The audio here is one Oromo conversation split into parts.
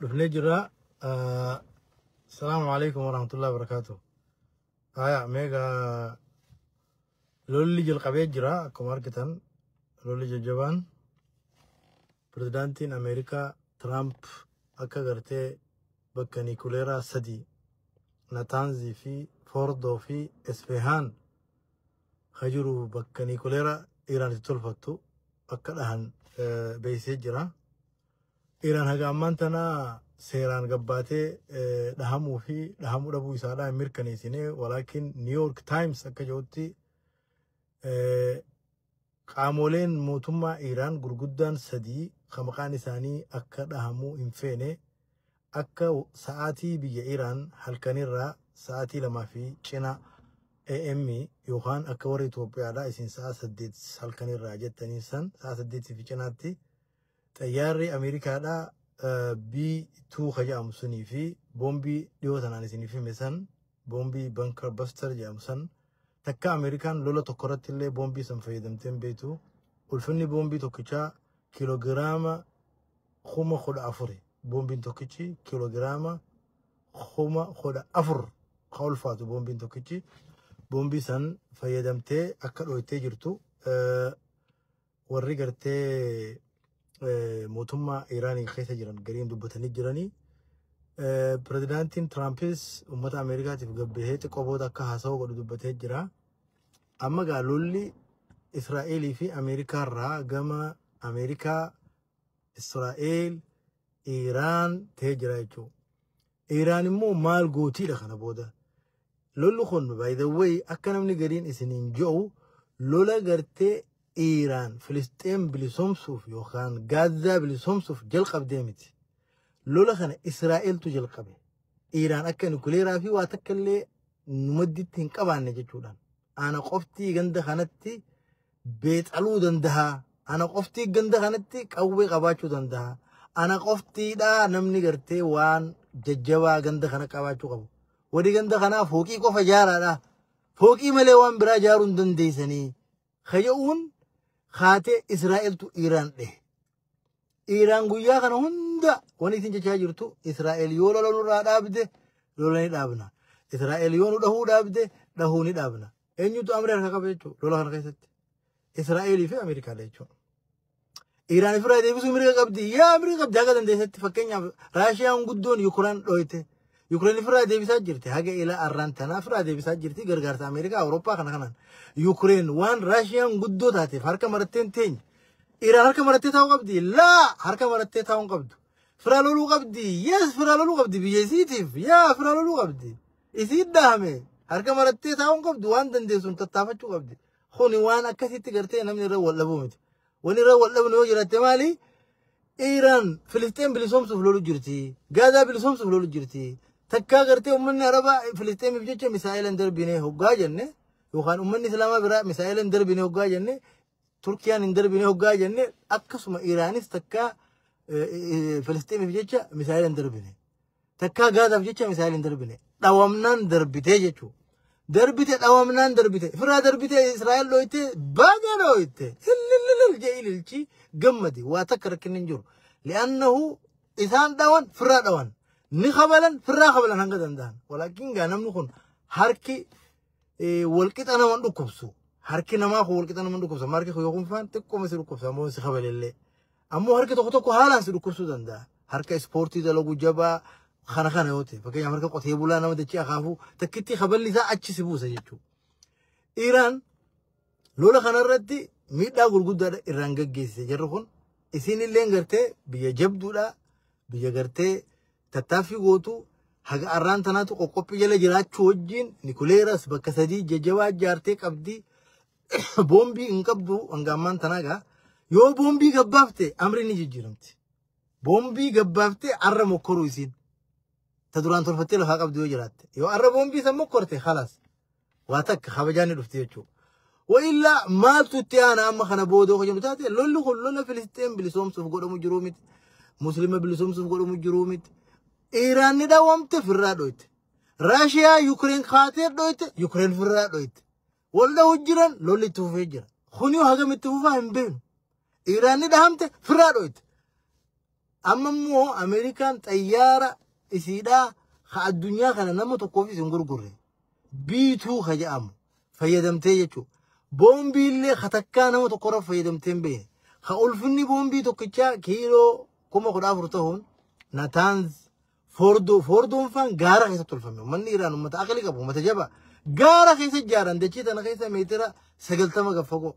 dhufnee jirra asalaamu alaikum warahmatullahi wabarakaatu haya meega lolli jalqabee jira akkuma argitan lolli jajjabaan pirezidaantiin ameerikaa tiraamp akka gartee bakka niikuleeraa sadii nataanzii fi foordoo fi isfehaan ka jiru bakka niikuleera Iraan itti tolfattu akka dhahan eh, beeksisee jira. Iraan haga ammaan tana seeraan gabbaatee eh, dhahamuu fi dhahamuu dhabuu isaadhaa hin mirkaneessine walaakin New York Times akka jedhutti eh, Qaamooleen mootummaa Iiraan gurguddaan sadii ka maqaan isaanii akka dhahamuu hin feene akka sa'aatii biyya Iiraan halkanirraa sa'aatii lamaa fi cina AM yookaan akka warri Itoophiyaadhaa isin sa'a saddeet halkanirraa jettaniin san sa'a saddeetii fi cinaatti Xayyaarri Ameerikaadhaa B2 ka jedhamu sunii fi boombii dhiyoo tanaan isiniif hime san boombii bankar baster jedhamu san takka Ameerikaan lola tokko irratti illee boombii san fayyadamtee hin beektu ulfinni boombii tokkichaa kiilogiraama kuma kudha afuri boombiin tokkichi kiilogiraama kuma kudha afur ka ulfaatu boombiin tokkichi boombii san fayyadamtee akka dhooytee jirtu warri gartee eh, mootummaa Iraanii keessa jiran gariin dubbatanii jiranii. Eh, Pirezidaantiin Tiraampis uummata Ameerikaatiif gabbahee xiqqoo booda akka haasawaa godhu dubbatee jira. Amma gaa lolli Israa'eelii fi Ameerikaa irraa gama Ameerikaa, Israa'eel, Iraan ta'ee jira jechuudha. Iraan immoo maal gootiidha kana booda. Lolli kun by the way akka namni gariin isiniin jedhu lola gartee Iraan Filisxeem bilisomsuuf yookaan Gaazaa bilisomsuuf jalqabdee miti. Lola kana Israa'eltu jalqabe. Iraan akka nukileeraa fi waa takka illee nu madditti hin qabaanne jechuudhaan. ana qoftii ganda kanatti beexaluu danda'a ana qoftii ganda kanatti qawwee qabaachuu danda'a ana qoftiidhaa namni gartee waan jajjabaa ganda kana qabaachuu qabu warri ganda kanaa fooqii qofa ijaaraadha fooqii malee waan biraa ijaaruu hin dandeessanii kaja'uun kaatee israa'eltu iiraan dhehe Iiraan guyyaa kana hunda wanni isin jechaa jirtu Israa'el yoo lola nurraa dhaabde lola ni dhaabna. Israa'el yoo nu dhahuu dhaabde dhahuu ni dhaabna. Eenyutu amri harka qaba jechuudha lola kana keessatti. Israa'elii fi Ameerikaadha jechuudha. Iiraan ofirraa deebisuu mirga qabdi. Yaa mirga qabdi haga dandeessetti fakkeenyaaf Raashiyaan guddoon Yukuraan dhooyte. Yukureen ofirraa deebisaa jirti. Haga ilaa arraan tanaa ofirraa deebisaa jirti. Gargaarsa Ameerikaa Awurooppaa kana kanaan. Yukureen waan Raashiyaan guddoo taateef harka maratteen teenya. Dhiiraan harka marattee taa'uu qabdi. Laa harka marattee taa'uu hin qabdu. Firaa loluu qabdi. Yes firaa loluu qabdi biyya isiitiif. Yaa firaa loluu qabdi. Isii dhaame harka marattee taa'uu hin qabdu waan dandeessuun tattaafachuu qabdi. Kuni waan akkasitti gartee namni irra wal dhabuu miti. Wani irra wal dhabnu yoo jiraatte maali? Iiraan Filisxeen bilisoomsuuf lolu jirti. Gaazaa bilisoomsuuf lolu jirti. Takkaa gartee uummanni Arabaa Filisxeemiif jecha misaa'eela hin darbine hoggaa jenne yookaan uummanni Islaamaa biraa misaa'eela hin darbine hoggaa jenne Turkiyaan hin darbine hoggaa jenne akkasuma Iraanis takkaa Filisxeemiif jecha misaayila hin darbine. Takkaa Gaazaaf jecha misaayila hin darbine. Dhawamnaan darbitee jechuudha. Darbite dhawamnaan darbite. Firaa darbite Israa'el dhooyte baga dhooyte. Illillillil jee ililchi gammadi. Waa takka rakkinni hin jiru. Li'annahu isaan dhawan firaa dhawan. Ni kabalan firaa kabalan hanga danda'an. Walaakin gaa namni kun harki eh, walqixa nama hin dhukkubsu. Harki namaa kun walqixa nama hin dhukkubsa. Amma harki kun yoo kunfaan xiqqooma si dhukkubsa ammoo si kabalellee. Ammoo harki tokko tokko haalaan si dhukkubsuu danda'a. Harka ispoortii dalagu jabaa kana kana yoo ta'e fakkeenyaaf harka qotee bulaa nama dachee akaafuu takkitti kaballi isaa achi si buusa jechuudha. Iraan lola kanarratti miidhaa gurguddaadha irraan gaggeessise jarri kun isinillee gartee biyya jabduudha biyya gartee tattaaffii gootu haga arraan tanaatu qoqqophii jala jiraachuu wajjin nikuleeras bakka sadii jajjabaa ijaartee qabdi boombii hin qabdu hanga ammaan tanaa gaa yoo boombii gabbaafte amri ni jijjiiramti boombii gabbaafte arra mokkoruu isiin ta duraan tolfattee lafaa qabdu yoo jiraatte yoo arra boombii san mokkorte khalaas waa takka kabajaan ni dhufti jechuudha. Wa'illaa maaltu itti aana amma kana booda hojjennu taate lolli kun lola Filisxeen bilisoomsuuf godhamu jiruu miti. Muslima bilisoomsuuf godhamu jiruu miti. Iiraan ni dhawamte firraa dhoyte. Raashiyaa Yukireen kaatee dhoyte Yukireen firraa dhoyte. Wal dhawu jiran lolli itti fufee jira. Kuni hagam itti fufaa hin beeknu. Iiraan ni dhahamte firraa dhoyte. Amma immoo Ameerikaan xayyaara isiidhaa ka addunyaa kana nama tokkoofis hin gurgurre. Biituu ka jedhamu fayyadamtee jechuudha. Boombii illee ka takkaa nama tokkorra fayyadamtee hin beekne. Ka ulfinni boombii tokkichaa kiiloo kuma kudha afur ta'uun Nataanz Foordoo Foordoon faan gaara keessatti tolfame. Uummanni Iraan uummata aqli qabu uummata jabaa. Gaara keessa ijaaran dachee tana keessa meetira sagaltama gad fagoo.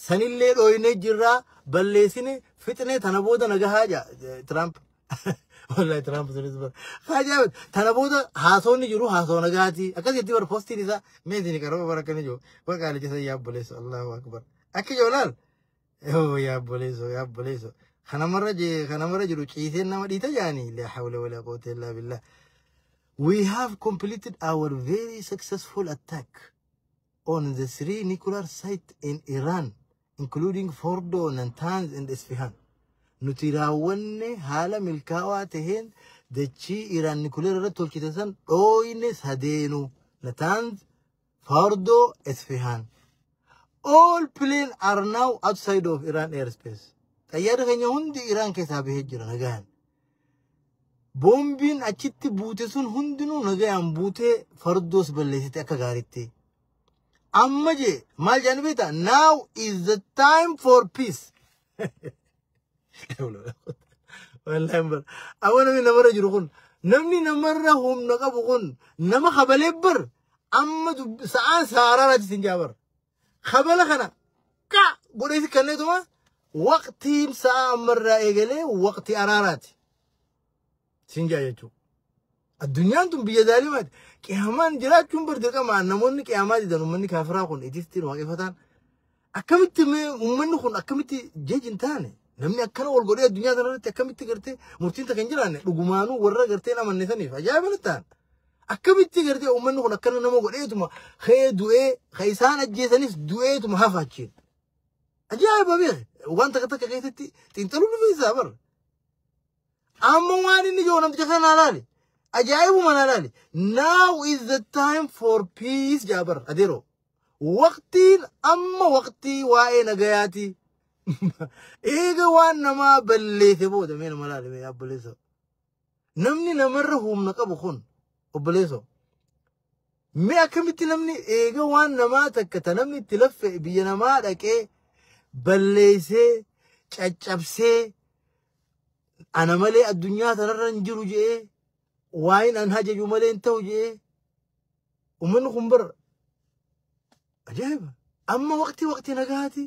Sanillee dhooynee jirraa balleessine fixne tana booda nagahaa ja Tiraamp. Wallahi Tiraamp sunis bara. Haajaa tana booda haasoonni jiru haasoo nagaati. Akkas jetti bara postiin isaa mee isin qaroo bara akkana jiru. Bara qaalicha san yaa obboleessu Allahu akbar. Akka jiru laal. Yoo yaa obboleessu yaa obboleessu. Kanamarra je- kanamarra jiru ciiseen nama dhiita jaanii. Laa hawla walaa quwwata illaa billah. We have completed our very successful attack. on the three nuclear sites in Iran, including Fordo, Natanz, and Isfahan. Nuti raawwanne haala milkaa'aa taheen dachii Iraan nuclear irratti tolchite san dhooyne sadeenu Natanz, Fordo, Isfahan. All planes are now outside of Iran airspace. Xayyaarri keenya hundi Iraan keessaa bahee jira nagaan. Boombiin achitti buute sun hundinuu nagayaan buutee fardoos balleessite akka gaaritti. Amma jee maal jedhanii beektaa? Now is the time for peace. Wallahi bar. Amma namni namarra jiru kun namni namarra humna qabu kun nama kabalee bar amma sa'aan saaraa irratti sin jaabar. kabala kana qa godheeti kenneetuma waqtiin sa'a ammarraa eegalee waqtii araaraati siin jaa jechuudha. Addunyaan tun biyya daalimaati. Qiyaamaan jiraachuun bar dirqama namoonni qiyaamaa didan uummanni kaafiraa kun ittiin waaqeffataan akkamitti mee uummanni kun akkamitti jeji hin taane namni akkana wal godhee addunyaa kanarratti akkamitti gartee murtiin takka hin jiraanne dhugumaanuu warra gartee hin amanne saniif ajaa'iba natti ta'an. Akkamitti gartee uummanni kun akkana nama godheetuma kee du'ee ka isaan ajjeesanis du'eetuma hafa achiin. Ajaa'iba beeke waan takka takka keessatti xiinxaluu ni feesisaa bara. Amma waan inni jiru namticha kana naa laali. Ajaa'ibuma naa laali. Now is the time for peace jaa bara adeeroo. Waqtiin amma waqtii waa'ee nagayaati. Eega waan namaa balleesse booda mee nama laali mee abballeessa. Namni namarra humna qabu kun obboleessoo mee akkamitti namni eega waan namaa takka ta namni itti laffe biyya namaa dhaqee balleessee caccabsee ana malee addunyaa tanarra hin jiru je'ee waan an hajaju malee hin ta'u je'ee ummanni kun bar Ajaa'iba! Amma waqtii waqtii nagaati.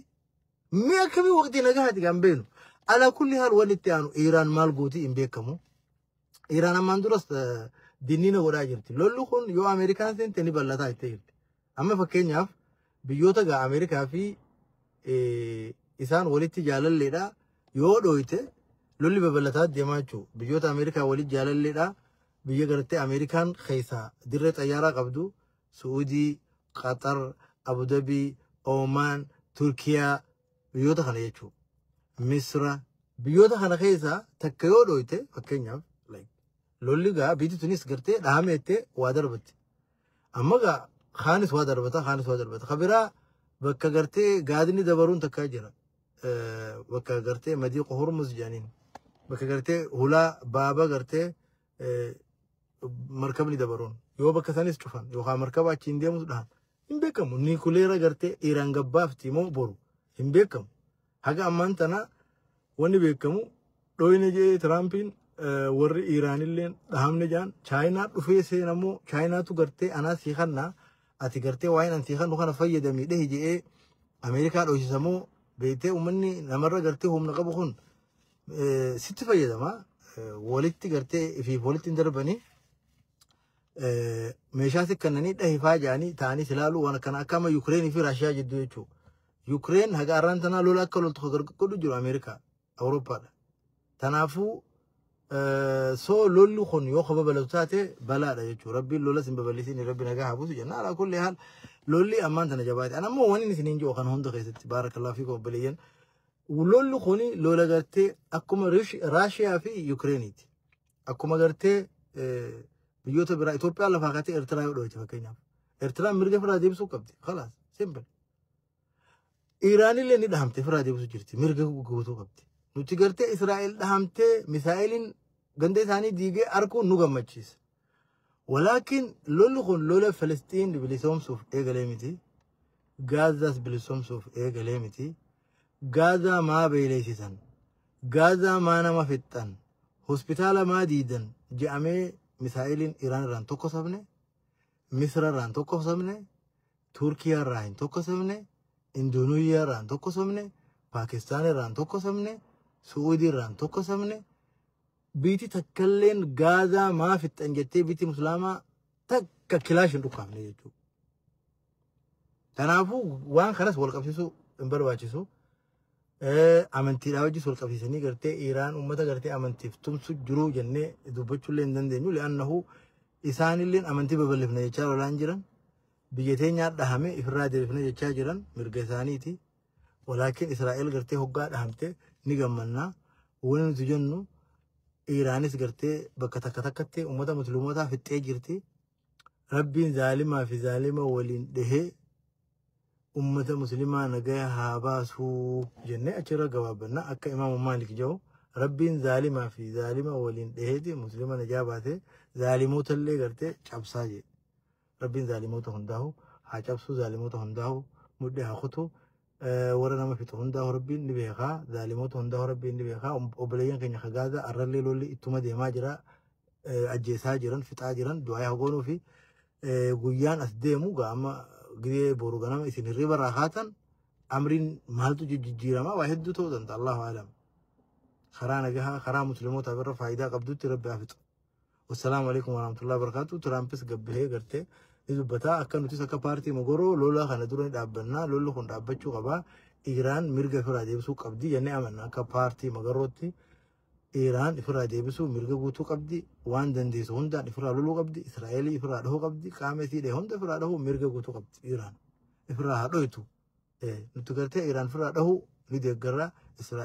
Mee akkamii waqtii nagaati kan beenu. Ala kulli haal wanni itti aanu Iiraan maal gootii hin beekamu. Iiraan ammaan duras eh, dinniina godhaa jirti. Lolli kun yoo Ameerikaan seente ni bal'ataa itti jirti. Amma fakkeenyaaf biyyoota gaa Ameerikaa fi eh, isaan walitti jaalalleedha. Yoo dhooyte lolli babal'ataa deemaa jechuudha. Biyyoota Ameerikaa walitti jaalalleedha. Biyya gartee Ameerikaan keessaa dirree xayyaaraa qabdu Su'uudii, Qaxar, Abudabii, Oomaan, Turkiyaa, biyyoota kana jechuu. Misra. Biyyoota kana keessa takka yoo dhooyte fakkeenyaaf like, lolli gaa biitti tunis gartee dhaameettee waa darbatti. Amma gaa kaanis waa darbata kaanis waa darbata. Ka biraa bakka gartee gaadni dabaruun takka jira. Eh, Bakka gartee madii qohormus jedhaniin. Bakka gartee hulaa baaba gartee eh, markabni dabaroon yoo bakka sanis cufan yookaan markaba achiin deemus dhahan hin beekamu niikuleera gartee Iraan gabbaafti moo boru hin beekamu haga ammaan tana wanni beekamu dhooyne jedhee Tiraampiin eh, warri Iraanillee dhahamne jedhan Chaayinaa dhufee seena moo Chaayinaatu gartee anaa sii kannaa ati gartee waa'een an sii kannu kana fayyadamii dhehi jedhee Ameerikaa dhooysisa moo beektee uummanni namarra gartee humna qabu kun eh, sitti fayyadama Eh, walitti gartee ifiif walitti hin darbanii eh, meeshaa sikkannanii dhahifaa jedhanii ta'anii silaaluu waan akkana akka amma Yukireenii fi Raashiyaa jidduu jechuudha. Yukireen haga arraan tanaa lola akka loltu kan godhu jiru Ameerikaa, Awurooppaadha. Tanaafuu eh, soo lolli kun yoo ka babalatu taate balaadha jechuudha. Rabbiin lola sin babal'isin rabbi nagaa haa buusu jenna. Alaa kulli haal lolli ammaan tana jabaate. An ammoo waniin isiniin jiru kan hunda keessatti baarakalaa fi obboleeyyan Lolli kun lola gartee akkuma Raashiyaa fi Yukireeniiti. Akkuma gartee biyyoota biraa Itoophiyaa lafaa kaatee Eertiraa yoo dhooyte fakkeenyaaf. Eertiraan mirga firaa deebisuu qabdi. Kalaas simple. Iraanillee ni dhahamte firaa deebisuu jirti. Mirga guutuu qabdi. Nuti gartee Israa'el dhahamtee misaa'eliin ganda isaanii diigee arguun nu gammachiisa. Walaakin lolli kun lola Filisxiin bilisoomsuuf eegalee miti. Gaazaas bilisoomsuuf eegalee miti. Gaazaa maa beeleysisan? Gaazaa maa nama fixxan? Hospitaala maa diidan? Je'amee misaa'eliin Iraan irraan tokkosamne, Misra irraan tokkosamne, Turkiyaa irraa hin tokkosamne, Indooneezhiyaa irraan tokkosamne, Paakistaan irraan tokkosamne, Su'uudii irraan tokkosamne, Biiti takkalleen gaazaa maa fixxan jettee biiti muslaamaa takka kilaash hin dhukkaafne jechuudha. Kanaafuu waan kanas wal qabsiisuu hin barbaachisu. Eh, Amantiidhaa wajjis wal qabsiisanii gartee Iraan uummata gartee amantiif tumsu jiruu jennee dubbachuullee hin dandeenyu. Li'annahu isaanilleen amantii babal'ifna jechaa lolaan jiran. Biyya teenyaa dhahame ifirraa deebifna jechaa jiran mirga isaaniiti. Walaakin Israa'el gartee hoggaa dhahamte ni gammannaa. Wani nuti jennu Iraanis gartee bakka takka takkatti uummata musliimotaa fixxee jirti. Rabbiin zaalimaa fi zaalima waliin dhihee ummata muslimaa nagaya haa baasuu jennee achirra gabaabbanna akka imaamu maalik jedhu rabbiin zaalimaa fi zaalima waliin dhiheeti muslima najaa baasee zaalimoota illee gartee cabsaa jedhe. Rabbiin zaalimoota hundaahu haa cabsuu zaalimoota hundaahu mudhii haa kutu warra nama fixu hundaahu rabbiin ni beekaa zaalimoota hundaahu rabbiin ni beekaa obboleeyyan keenya ka gaazaa arrallee lolli ittuma deemaa jira ajjeesaa jiran fixaa jiran du'aa haa goonuu fi guyyaan as deemu gaa amma gidee boru ganama isin hirriba irraa kaatan amriin maaltu jijjiirama waa hedduu ta'uu danda'a allahu alam karaa nagahaa karaa muslimootaaf irra faayidaa qabdutti rabbi haa fixu Wassalaamu alaikum warahmatullahi wabarakatuh. Tiraampis gabbahee gartee ni dubbata. Akka nutis akka paartii mogoroo lola kana dura ni dhaabbanna. Lolli kun dhaabbachuu qaba. Iraan mirga ofirraa deebisuu qabdi jennee amanna akka paartii mogorootti. Iraan ofirraa deebisuu mirga guutuu qabdi. Waan dandeessu hundaan ofirraa loluu qabdi. Israa'elii ofirraa dhahuu qabdi. Qaama isii dhahe hunda ofirraa dhahuu mirga guutuu qabdi. Iraan ofirraa haa dhohitu. Nuti gartee Iraan ofirraa dhahuu ni deeggarra. Israa'el